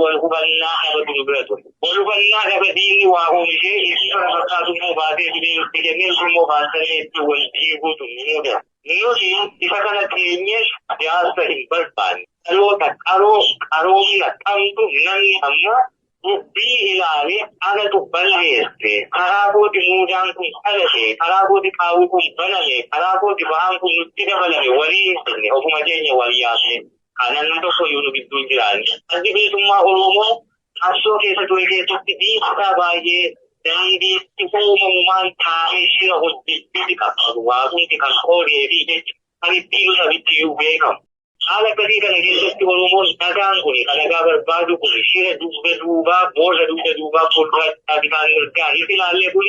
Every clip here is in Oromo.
wal hubannaa haala jiru bira ture. Wal hubannaa gaba diinni waa oomishee inni bara fakkaatu immoo baatee fidee itti kennee sun immoo baatanii itti wal diiguutu ni mudata. Nuti isa kana teenyee siyaasa hin barbaanne. Dhaloota qaroo qaroomina qabdu namni amma dubbii ilaale anatu balleesse karaa kooti muudaan kun dhalate karaa kooti qaawwi kun baname karaa kooti ba'aan kun nutti dabalame walii hin jenne ofuma keenya wal yaafne Kanan hunda soyyuu nu gidduu hin jiraanne. Addi bilisummaa Oromoo qabsoo keessa ture keessatti dhiibbaa baay'ee daandii itti uumamumaan taa'ee shira hojjechuuti qabsaa'u. Waaqumti kan qoodee fi jecha kan ittiin sabitti iyyuu beekamu. Haala akkasii kana keessatti Oromoon nagaan kun kan nagaa barbaadu kun shira dugda duubaa boolla dugda duubaa fuulduraatti taasisaa mirgaa hin ilaallee kun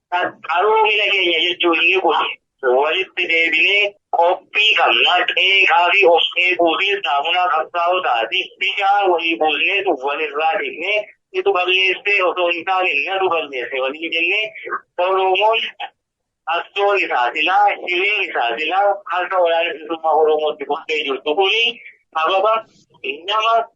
Qaroomina keenya jechuun inni kun walitti deebinee qophii qabna. Qeeqaa fi of qeequutiin saamunaa qabsaa'otaati. Bishaan walii buusneetu walirraa dhiqnee situ balleessee osoo hin taane natu balleesse waliin jennee Oromoon qabsoon isaa silaa hireen isaa silaa harka waraana bilisummaa Oromootti kuftee jirtu kuni sababa nama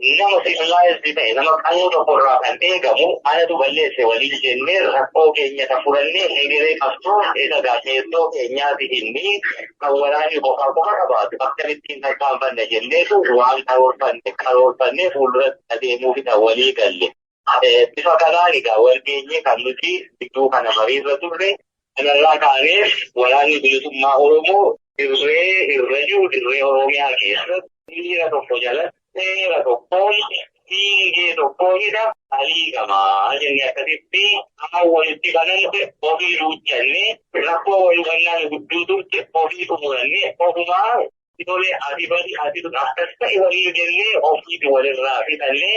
nama civilized ta'e nama qannoo tokko irraa kan eegamu anatu balleesse waliin jennee rakkoo keenya kan furannee hegeree qabsoo isa gaazexoo keenyaati inni kan waraanii qofaa qofa qabaatu akkamittiin tarkaanfanna jenneetu waan karoorfanne karoorfannee fuulduratti adeemuuf isa walii galle. Bifa kanaan egaa walgeenyee kan nuti gidduu kana mariirra turre kanarraa kaaneef waraanni bilisummaa Oromoo dirree irra jiru dirree Oromiyaa keessatti miira tokko jalatti seera tokkoon dhiingee tokkoonidha aliigamaa jennee akkasitti afaan walitti bananne ofii duuchannee rakkoo wal hubannaan gudduu turte ofii xumurannee ofumaa tolee ati badi ati akkas ta'e waliin jennee ofiiti walirraa fixannee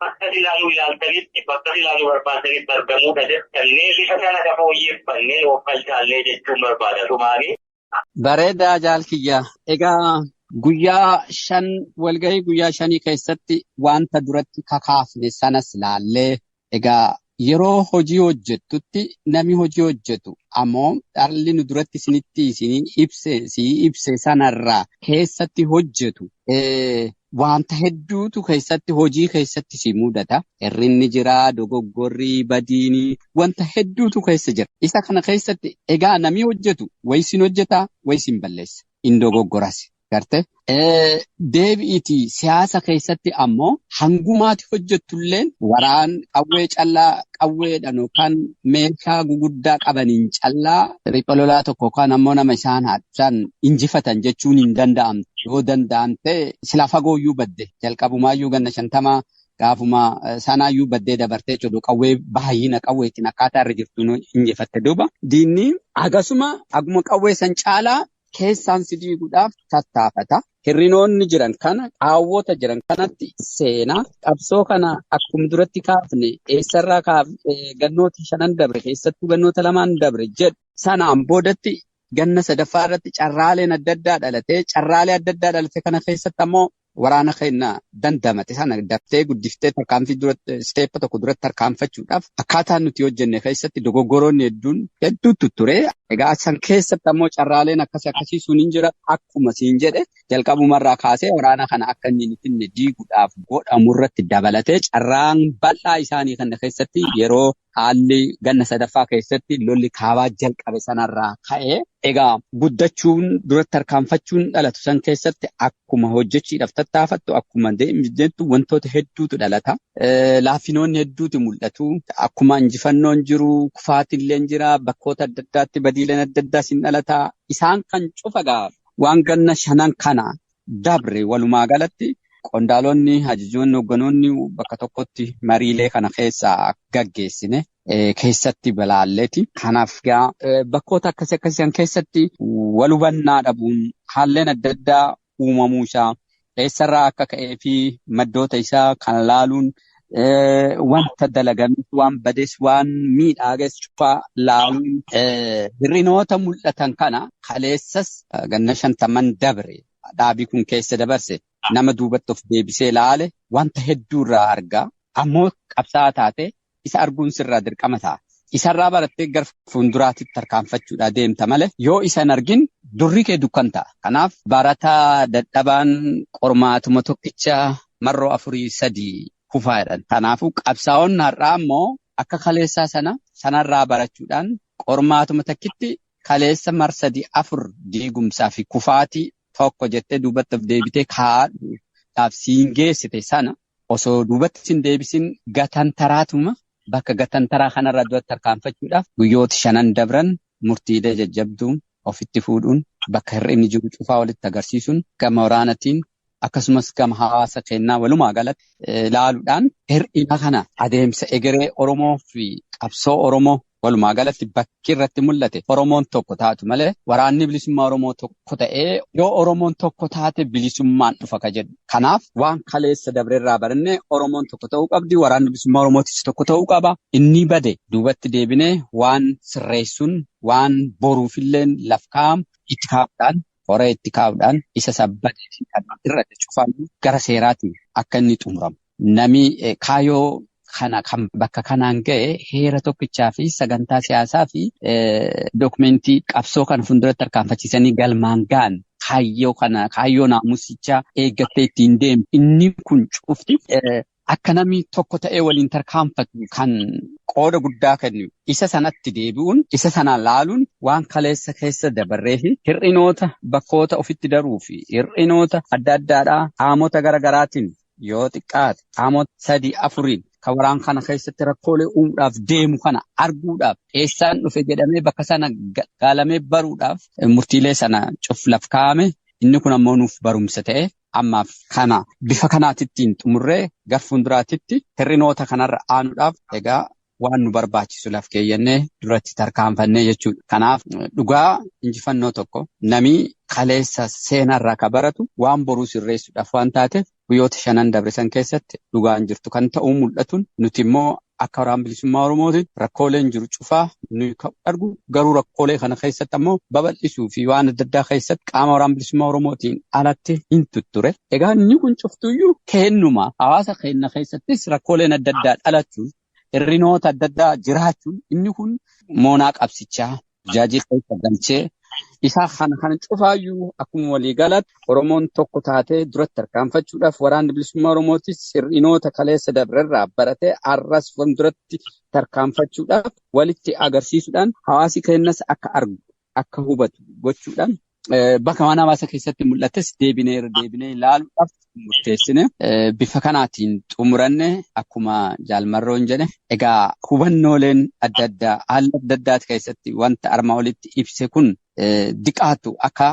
Bakka ilaaluu ilaaltanitti, bakka ilaaluu barbaaddanitti argamuudha jettannee bifa kana ka fooyyeffannee of qalchaallee jechuun barbaada tumaanii. Bareedaa jaal kiyya. Egaa guyyaa shan walgahii guyyaa shanii keessatti wanta duratti kakaafne sanas laallee egaa Yeroo hojii hojjettutti nami hojii hojjetu ammoo dhalli nu duratti isinitti isinii ibse sii ibse sanarraa keessatti hojjetu wanta hedduutu keessatti hojii keessatti si mudata. Hirrinni jira, dogoggorri, badiini wanta hedduutu keessa jira. Isa kana keessatti egaa nami hojjetu way sin hojjeta way sin balleessa. In dogoggoras. Garte. Deebi'iti siyaasa keessatti ammoo hangumaati hojjettulleen waraan qawwee callaa qawweedhaan yookaan meeshaa guguddaa qabaniin callaa riphee lolaa tokko yookaan ammoo nama isaan haadhaan injifatan jechuun hin danda'amne. Yoo danda'amte sila fagooyyuu badde jalqabumaayyuu ganna shantamaa gaafuma sanaayyuu baddee dabartee jedhu qawwee baay'ina qawweetiin akkaataa irra jirtu injifatte duuba. Diinni hagasuma haguma qawwee san caalaa keessaan si diiguudhaaf tattaafata. Hirrinoonni jiran kana qaawwota jiran kanatti seenaa qabsoo kana akkuma duratti kaafne eessarraa kaafne gannoota shanan dabre keessattuu gannoota lamaan dabre jedhu sanaan boodatti ganna sadaffaa irratti carraaleen adda addaa dhalatee carraalee adda addaa dhalate kana keessatti ammoo waraana keenya dandamate sana daftee guddiftee tarkaanfii dura steepa tokko duratti tarkaanfachuudhaaf akkaataa nuti hojjenne keessatti dogoggoroonni hedduun hedduutu ture. Egaa san keessatti ammoo carraaleen akkasii akkasii sun hin jira akkuma siin jedhe jalqabumarraa kaasee waraana kana akka inni hin finne diiguudhaaf godhamu irratti dabalatee carraan bal'aa isaanii kana keessatti yeroo Haalli ganna sadaffaa keessatti lolli kaabaa jalqabe sanarraa ka'e egaa guddachuun duratti tarkaanfachuun dhalatu san keessatti akkuma hojjechiidhaaf tattaafattu akkuma deemtu wantoota hedduutu dhalata. Laaffinoonni hedduutu mul'atu. Akkuma injifannoon jiru kufaatiilleen jira bakkoota adda addaatti badiileen adda addaas hin dhalata. Isaan kan cufa gaa waan ganna shanan kana dabre walumaa galatti qondaalonni ajajoonni hogganoonni bakka tokkotti mariilee kana keessaa gaggeessine keessatti balaalleeti. Kanaaf gaa bakkoota akkasii akkasiisan keessatti wal hubannaa dhabuun haalleen adda addaa uumamuu isaa eessarraa akka ka'ee fi maddoota isaa kan laaluun wanta dalagames waan bades waan miidhaages cufaa laaluun hir'inoota mul'atan kana kaleessas ganna shantaman dabre dhaabii kun keessa dabarse nama duubatti of deebisee laale wanta hedduu irraa argaa ammoo qabsaa'aa taate isa arguun sirraa dirqama ta'a. Isarraa barattee gara fuulduraatti tarkaanfachuudhaa deemta malee yoo isa hin argin durri kee dukkan ta'a. Kanaaf barataa dadhabaan qormaatuma tokkicha marroo afurii sadii kufaa jedhan. Kanaafuu qabsaa'onni har'aa immoo akka kaleessaa sana sanarraa barachuudhaan qormaatuma takkitti kaleessa mar sadii afur diigumsaa fi kufaatii tokko jettee duubatti of deebitee kaa'aadhuudhaaf siin geessite sana osoo duubatti siin deebisin gatantaraatuma bakka gatantaraa kanarra duratti tarkaanfachuudhaaf guyyoota shanan dabran murtiilee jajjabduu ofitti fuudhuun bakka hir'inni jiru cufaa walitti agarsiisuun gama waraanatiin akkasumas gama hawaasa keenyaa walumaa galatti ilaaluudhaan hir'ina kana adeemsa egeree Oromoo fi qabsoo Oromoo walumaa galatti bakki irratti mul'ate Oromoon tokko taatu malee waraanni bilisummaa Oromoo tokko ta'ee yoo Oromoon tokko taate bilisummaan dhufa ka jedhu. Kanaaf waan kaleessa dabrerraa barannee Oromoon tokko ta'uu qabdi waraanni bilisummaa Oromootis tokko ta'uu qaba inni bade duubatti deebinee waan sirreessuun waan boruufillee laf kaa'amu itti kaa'uudhaan hora itti kaa'udhaan isa sabbate fi kan irratti cufamu gara seeraati akka inni xumuramu. Nami kaayoo kana kan bakka kanaan ga'e heera tokkichaa fi sagantaa siyaasaa fi dookumentii qabsoo kana fuulduratti tarkaanfachiisanii galmaan ga'an kaayyoo kana kaayyoo naamusichaa eeggattee ittiin deemu inni kun cufti Akka namni tokko ta'ee waliin tarkaanfatu kan qooda guddaa kennu isa sanatti deebi'uun isa sana laaluun waan kaleessa keessa dabarree fi hir'inoota bakkoota ofitti daruu fi hir'inoota adda addaadhaa qaamota gara garaatiin yoo xiqqaate qaamota sadii afuriin kan waraan kana keessatti rakkoolee uumuudhaaf deemu kana arguudhaaf eessaan dhufe jedhamee bakka sana gaalamee baruudhaaf murtiilee sana cuflaf kaa'ame inni kun ammoo nuuf barumsa ta'e ammaaf kana bifa kanaatittiin xumurree gar fuulduraatitti hir'inoota kanarra aanuudhaaf egaa waan nu barbaachisu laf keeyyannee duratti tarkaanfannee jechuudha. Kanaaf dhugaa injifannoo tokko namii kaleessa seenarraa ka baratu waan boruu sirreessuudhaaf waan taateef guyyoota shanan dabrisan keessatti dhugaan jirtu kan ta'uu mul'atuun nuti immoo Akka Waraana Bilisummaa Oromootitti rakkooleen jiru cufaa nuyi ka'u argu garuu rakkoolee kana keessatti ammoo babal'isuu fi waan adda addaa keessatti qaama Waraana Bilisummaa Oromootiin alatti hin tutture. Egaa inni kun cuftuyyuu keennuma hawaasa keenna keessattis rakkooleen adda addaa dhalachuun hirrinoota adda addaa jiraachuun inni kun moonaa qabsichaa jaajii keessa galchee isaa kana kana cufaayyuu akkuma walii galatti Oromoon tokko taatee duratti tarkaanfachuudhaaf waraanni bilisummaa Oromootis hir'inoota kaleessa dabrerraa baratee har'as fuulduratti tarkaanfachuudhaaf walitti agarsiisuudhaan hawaasi keenyas akka argu akka hubatu gochuudhaan Bakka mana hawaasa keessatti mul'ates deebinee irra deebinee ilaaluudhaaf murteessine bifa kanaatiin xumuranne akkuma jaalmarroon jedhe egaa hubannooleen adda addaa haala adda addaati keessatti wanta armaa olitti ibse kun diqaatu akka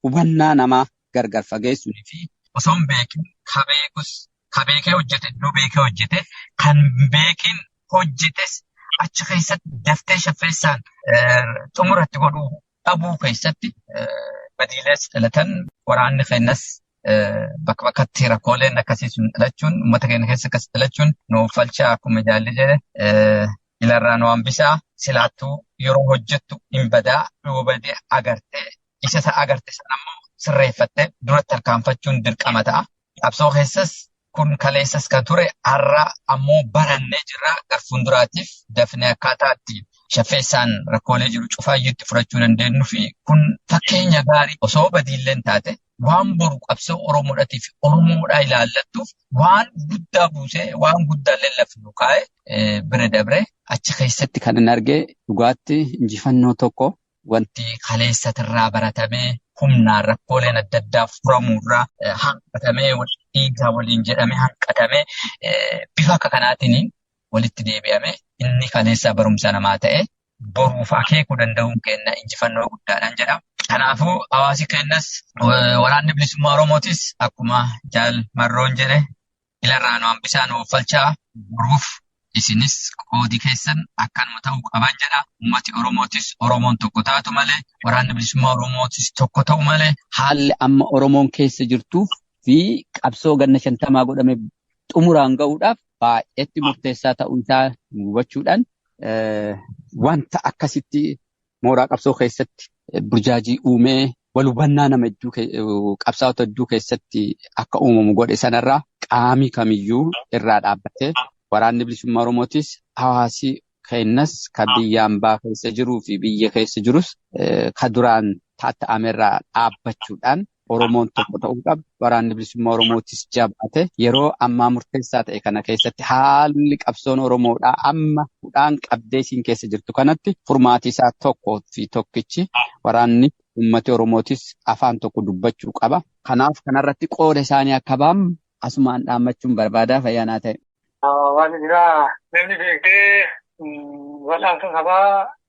hubannaa namaa gargar fageessuun fi osoo hin beekin ka beekus ka beekee hojjete iddoo beekee hojjete kan beekin hojjetes achi keessatti daftee shaffeessaan xumuratti godhuu dhabuu keessatti badiilees dhalatan waraanni keenyas bakka bakkatti rakkooleen akkasii sun dhalachuun uummata keenya keessa akkas dhalachuun nu uffalchaa akkuma jaalli jedhe ilarraa nu hambisaa silaattuu yeroo hojjettu hin badaa yoo badee agartee isa isa agarte sana immoo sirreeffattee duratti tarkaanfachuun dirqama ta'a. Qabsoo keessas kun kaleessas kan ture har'a ammoo barannee jirra gar fuulduraatiif dafnee akkaataa itti shaffeessaan rakkoolee jiru cufaayyuu itti furachuu dandeenyu fi kun fakkeenya gaarii osoo badiilleen taate waan boru qabsoo Oromoodhaatiif Oromoodhaa ilaallattuuf waan guddaa buusee waan guddaa lallafnu kaa'e bira dabree achi keessatti kan hin argee dhugaatti injifannoo tokko Wanti kaleessa irraa baratamee humnaan rakkooleen adda addaa furamuu irraa hanqatamee dhiigaa waliin jedhamee hanqatamee bifa akka kanaatiin walitti deebi'ame inni kaleessaa barumsa namaa ta'e boruuf akeekuu danda'uun keenya injifannoo guddaadhaan jedhama. Kanaafuu hawaasi keenyas waraanni bilisummaa Oromootis akkuma jaal marroon jedhe Ilarraa nu hambisaa nu offalchaa boruuf isinis qoodi keessan akkanuma ta'uu qaban jedha. Ummati Oromootis Oromoon tokko taatu malee waraanni bilisummaa Oromootis tokko ta'u malee haalli amma Oromoon keessa jirtuuf fi qabsoo ganna shantamaa godhame xumuraan ga'uudhaaf baay'eetti murteessaa ta'uu isaa hubachuudhaan wanta akkasitti mooraa qabsoo keessatti burjaajii uumee wal hubannaa nama hedduu qabsaa'ota hedduu keessatti akka uumamu godhe sanarraa qaamii kamiyyuu irraa dhaabbatee waraanni bilisummaa Oromootis hawaasi keenyas kan biyya ambaa keessa jiruu fi biyya keessa jirus kan duraan tatta'amerraa dhaabbachuudhaan Oromoon tokko ta'uu qaba. Waraanni bilisummaa Oromootis jabaate yeroo ammaa murteessaa ta'e kana keessatti haalli qabsoon Oromoodhaa amma hudhaan qabdee isiin keessa jirtu kanatti furmaati isaa tokko fi tokkichi waraanni ummati Oromootis afaan tokko dubbachuu qaba. Kanaaf kanarratti qooda isaanii akka ba'an asumaan dhaammachuun barbaadaa fayyaanaa ta'e. Waan biraa namni beektee wal'aansa sabaa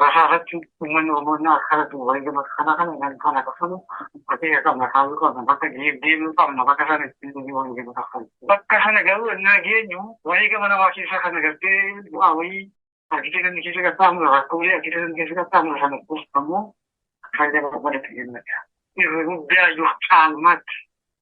Rasaa irratti uummanni Oromoo akka irratti wareegama kana kana kan kana kafalu bakka qabna kaayuu qabna bakka deemuu qabna bakka sana ittiin deemee wareegama kafalu. Bakka sana garuu innaa geenyu wareegama namaa keessa kana gartee bu'aa wayii argitee kan keessa qaxxaamuru rakkoolee argitee kan keessa qaxxaamuru sana kuustu ammoo faayidaa barbaadatu jennudha. Irra guddaa yoo caalmaatti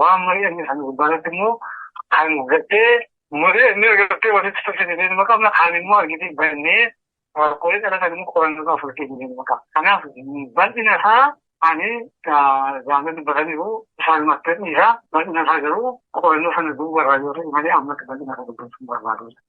waan mari'anne sana gubbaarratti immoo kan gattee mari'annee gattee walitti tolcha jedhee nama qabna kan immoo argitee bannee rakkoolee dhalatan immoo qorannoo irraa fudhatee jedhee nama qabna. Kanaaf bal'ina isaa ani zaamee dubbataniiru isaan mattanii isaa bal'ina isaa garuu qorannoo sana duuba irraa yoo ta'e malee ammatti bal'ina isaa dubbachuu barbaadu.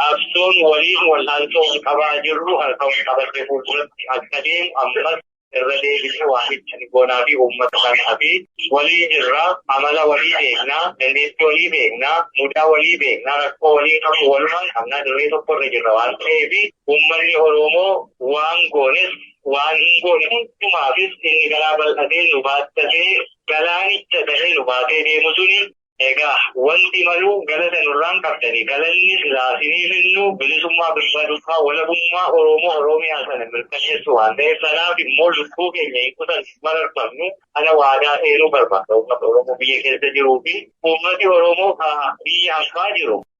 Qabsoon waliin wal'aansoo wal qabaa jirru harka wal qabatee fuulduratti akka deemu ammas irra deebinee waamicha ni goonaa fi uummata kanaaf walii jirra, amala walii beekna, dandeettii walii beekna, mudaa walii beekna, rakkoo walii qabnu walumaan qabna, dirree tokko irra jirra waan ta'eef uummanni Oroomoo waan goones waan hin goone hundumaafis inni garaa bal'atee nu baattatee galaanicha ta'ee nu baatee deemu suni Egaa walti maluu galata nurraan qabdani galanni silaa sinii finnu bilisummaa birbadummaa walabummaa oroomo oroomiyaa sana mirkaneessuu waan ta'eef sanaaf immoo lubbuu keenya hin kutannu hin mararfannu kana waadaa seenuu barbaada uummata oroomo biyya keessa jiruu fi uummati oroomo ka biyya ambaa jiru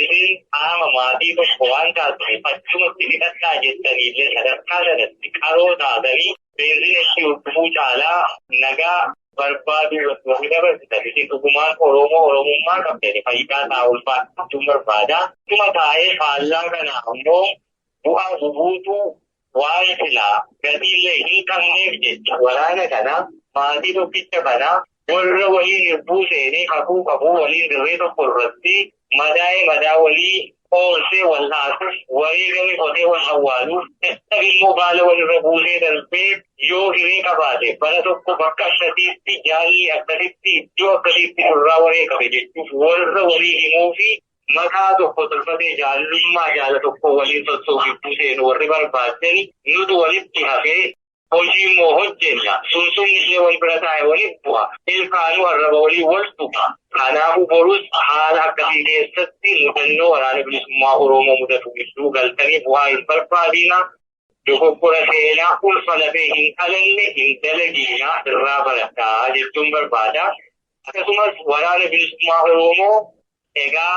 Isin qaama maatii tokko waan taataniif achumatti fixadhaa jettanii illee sadarkaa sanatti qaroo taatanii beenzina ishii hordofuu caalaa nagaa barbaaduu irratti warri dabarsitan isin dhugumaan Oromoo Oromummaa qabdani fayyidaa ta'a ulfaadha jechuun barbaada. Dhuma taa'ee faallaa kana ammoo bu'aa bubuutuu Waa'ee silaa gatii illee hin qabneef jecha waraana kana maatii tokkicha kana warra waliin hirbuu seenee kakuu qabu waliin dirree tokko irratti madaa'ee madaa walii qoorsee wal'aansuuf wareegame qotee wal awwaaluuf dadhabe immoo baala walirra buusee darbee yoo hiree qabaate bara tokko bakka akkasiitti jaalli akkasitti iddoo akkasiitti nurraa wareegame jechuuf warra walii himuu fi mataa tokko tolfatee jaallummaa jaala tokko waliin toltuu gidduu seenu warri barbaadani nutu walitti hafee hojii immoo hojjenna sunsumni ishee wal bira taa'e waliin bu'a ilkaanuu arraba waliin wal tuqa kanaafuu borus haala akkasii keessatti mudannoo waraana bilisummaa oromoo mudatu gidduu galtanii bu'aa hin barbaadina Dogoggora seenaa ulfa lafee hin dhalanne hin dalagiina irraa baradhaa jechuun barbaada. Akkasumas waraana bilisummaa Oromoo egaa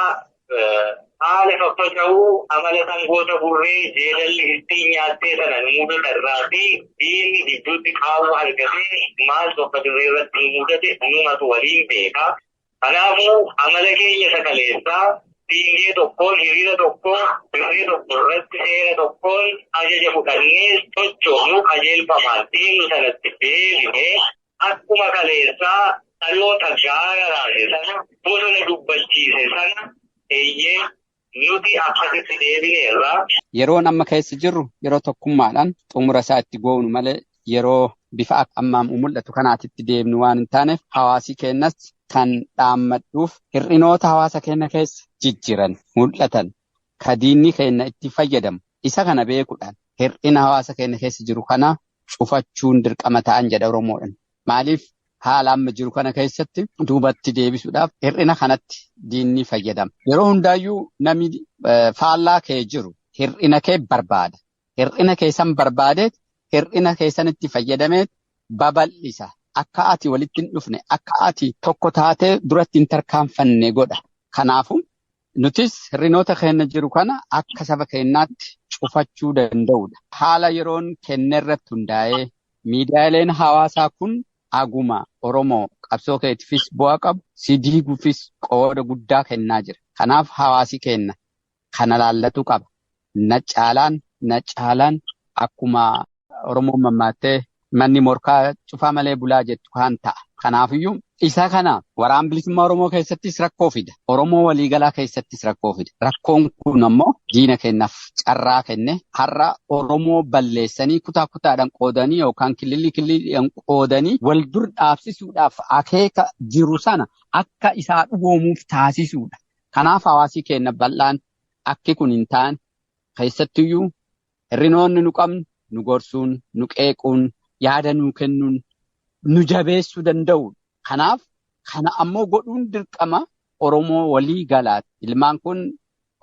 haala faffaca'uu amala sangoota burree jeedalli ittiin nyaattee sana nu mudata irraa fi diinni gidduutti qaawwa argatee maaltu akka dirree irratti nu mudate numatu waliin beeka. Kanaafuu amala keenya isa kaleessaa fiingee tokkoon, hiriira tokkoon, dirree tokko irratti seera tokkoon ajaja fudhannee sochoonu qajeelfamaan deemnu sanatti deebinee akkuma kaleessaa dhaloota gaara raase sana, bosona dubbachiise sana, eeyyee Nuti akkas itti deebineerra. Yeroon amma keessa jirru yeroo tokkummaadhaan xumura isaa itti goonu malee yeroo bifa akka amma mul'atu kanaatti itti deebinu waan hin taaneef hawaasii keenyas kan dhaammadhuuf hir'inoota hawaasa keenya keessa jijjiran mul'atan ka diinni keenya itti fayyadamu isa kana beekuudhaan hir'ina hawaasa keenya keessa jiru kana cufachuun dirqama ta'an jedha Oromoodhaan. Maaliif haala amma jiru kana keessatti duubatti deebisuudhaaf hir'ina kanatti diinni fayyadama. Yeroo hundaayyuu namni faallaa kee jiru hir'ina kee barbaada. Hir'ina kee san barbaadee hir'ina kee sanitti fayyadamee babal'isa. Akka ati walitti hin dhufne, akka ati tokko taatee duratti hin tarkaanfanne godha. Kanaafuu Nutis hir'inoota keenya jiru kana akka saba keenyaatti cufachuu danda'uudha. Haala yeroon kenne irratti hundaa'ee miidiyaaleen hawaasaa kun aguma Oromoo qabsoo keetiifis bu'aa qabu si diiguufis qooda guddaa kennaa jira. Kanaaf hawaasi keenya kana laallatuu qaba. Na caalaan na caalaan akkuma Oromoon mammaattee manni morkaa cufaa malee bulaa jettu kaan ta'a. Kanaafiyyuu isa kana waraan bilisummaa Oromoo keessattis rakkoo fida. Oromoo waliigalaa keessattis rakkoo fida. Rakkoon kun ammoo diina kennaaf carraa kenne har'a Oromoo balleessanii kutaa kutaadhaan qoodanii yookaan kililii kililiidhaan qoodanii wal dur dhaabsisuudhaaf akeeka jiru sana akka isaa dhugoomuuf taasisuudha. Kanaaf hawaasii keenya bal'aan akki kun hin taane, keessattuyyuu hirrinoonni nu qabnu nu gorsuun, nu qeequun, yaada nuu kennuun nu jabeessuu danda'u. Kanaaf kana ammoo godhuun dirqama Oromoo walii galaati. Ilmaan kun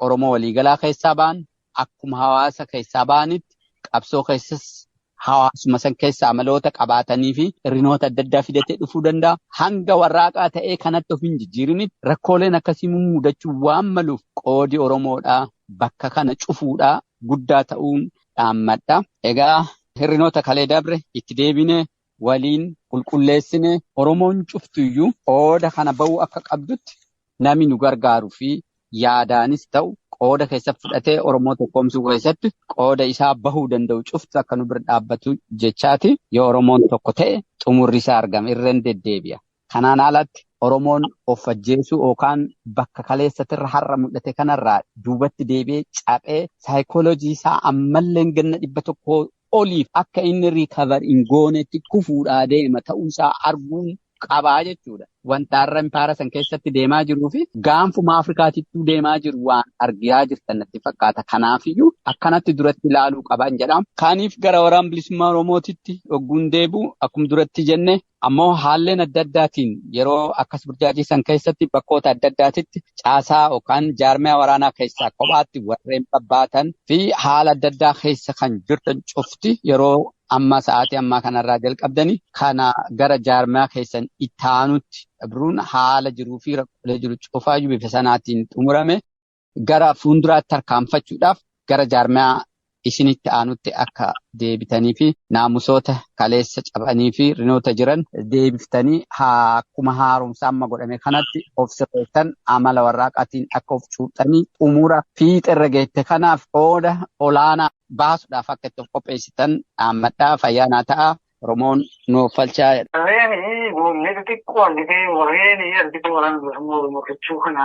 Oromoo walii galaa keessaa ba'an, akkuma hawaasa keessaa ba'anitti qabsoo keessas hawaasuma san keessa amaloota qabaatanii fi hirrinoota adda addaa fidatee dhufuu danda'a. Hanga warraaqaa ta'ee kanatti of hin jijjiirinitti rakkooleen akkasii mudachuu waan maluuf qoodi Oromoodhaa bakka kana cufuudhaa guddaa ta'uun dhaammadha. Egaa hirrinoota kalee dabre itti deebine waliin qulqulleessine Oromoon cuftuyyuu qooda kana ba'uu akka qabdutti Nami nu gargaaru fi yaadaanis ta'u qooda keessatti fudhatee Oromoo tokkoomsuu keessatti qooda isaa bahuu danda'u cufti akka nu bira dhaabbatu jechaati. Yoo Oromoon tokko ta'e xumurri isaa argama. Irreen deddeebi'a. Kanaan alatti Oromoon of ajjeesuu yookaan bakka kaleessatirra har'a mul'ate kanarraa duubatti deebi'ee caphee saayikooloojii isaa ammallee ganna dhibba tokkoo oliif akka inni recover hin goonetti kufuudhaa deema ta'uusaa arguun qabaa jechuudha. Wanta har'a impaara san keessatti deemaa jiruu fi gaanfuma Afrikaatittuu deemaa jiru waan argaa jirtan natti fakkaata. Kanaafiyyuu akkanatti duratti ilaaluu qaban jedhama. Kaaniif gara waraana bilisummaa Oromootitti dhogguun deebi'u akkuma duratti jenne Ammoo haalleen adda addaatiin yeroo akkas burjaajii san keessatti bakkoota adda addaatitti caasaa yookaan jaarmiyaa waraanaa keessaa kophaatti warreen babbaatan fi haala adda addaa keessa kan jirtan cufti yeroo amma sa'aatii ammaa kanarraa jalqabdanii kana gara jaarmiyaa keessan itti aanutti dabruun haala jiruu fi rakkoolee jiru cufaayyuu bifa sanaatiin xumurame. gara fuulduraatti tarkaanfachuudhaaf gara jaarmiyaa isinitti aanutti akka deebitanii fi naamusoota kaleessa cabanii fi rinoota jiran deebiftanii akkuma haaromsa amma godhame kanatti of sirreessan amala warraaqaatiin akka of cuuphxanii xumura fiixerra geette kanaaf qooda olaanaa baasuudhaaf akka itti of qopheessitan dhaammadhaa fayyaanaa ta'a Oromoon nuuf falchaa. Reeni muummee xixiqqoo argitee warreen argitee waraan bilisummaa Oromoo jechuu kana